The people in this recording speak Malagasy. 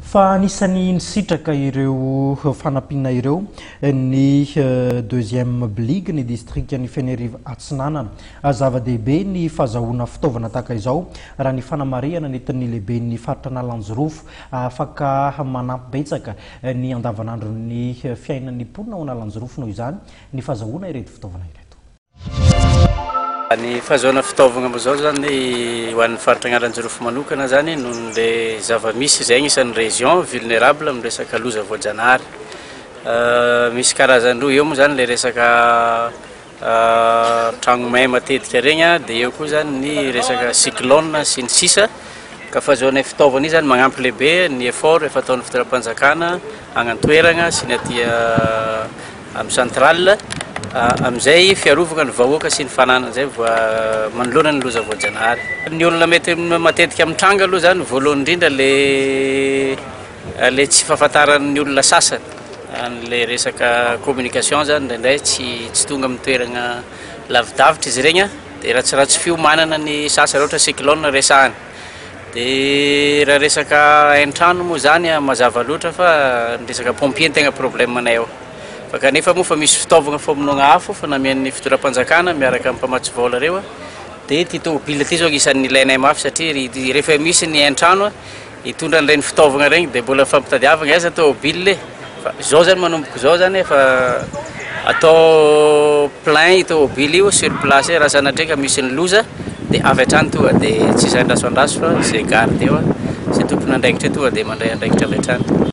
Fa anisan'ny nisitraka ireo fanampiana ireo ny deuxième bligue ny distrikan'i Fenerive Atsinanana. Zava-dehibe ny fahazahoana fitaovana tahaka izao raha ny fanamarihana nentin'ny lehiben'ny faritra Analanjirofo. Afaka manampy betsaka ny andavanandron'ny fiainan'ny mponina ao Analanjirofo noho izany ny fahazahoana ireto fitaovana ireto. Ny fahazoana fitaovagna amin'izao zany ho an'ny faritra Analanjirofo manokana zany noho ny le zava-misy izay agnisan'ny région vulnérable amin'ny resaka loza voajanahary. Misy karazany roa, eo moa zany le resaka tragno may matetika regny a, de eo koa zany ny resaka cyclone sy ny sisa. Ka fahazoanay fitaovana io zany magnampy lehibe ny effort efa ataon'ny fitondram-panjakana agny an-toeragna sy ny aty Am centrale amizay fiarovagna ny vahoaka sy ny fananany zay vo manoloana ny loza voajanahary. Ny olona mety matetika mitranga aloha zany voalohany indrindra le le tsy fahafantaran'ny olona sasany anle resaka communication zany indraindray tsy tsy tonga amin'ny toeragna lavidavitra izy regny a de ratsiratsy fiomanana ny sasany ohatra cyclone resahana. Dia raha resaka hain-trano moa izany an, mazava loatra fa ny resaka pompier no tena problème-nay ao. Fa kanefa moa fa misy fitaovagna famonoagna afo efa namian'ny fitondram-panjakana miaraka amin'ny mpamatsy vola ireo an, dia ity tômôbila ity izao agnisan'ny ilainay mafy satria ry ity rehefa misy ny hain-trano an, hitondra an'ireny fitaovagna ireny dia mbola fampitadiavagna aiza tômôbila e! Fa izao zany manomboka izao zany efa atao plein io tomobily io sur place raha sanatria ka misy ny loza dia avy hatrany tonga dia tsy izay andraso andraso fa izay garde eo, izay tompon'andraikitra eo tonga dia mandray andraikitra avy hatrany.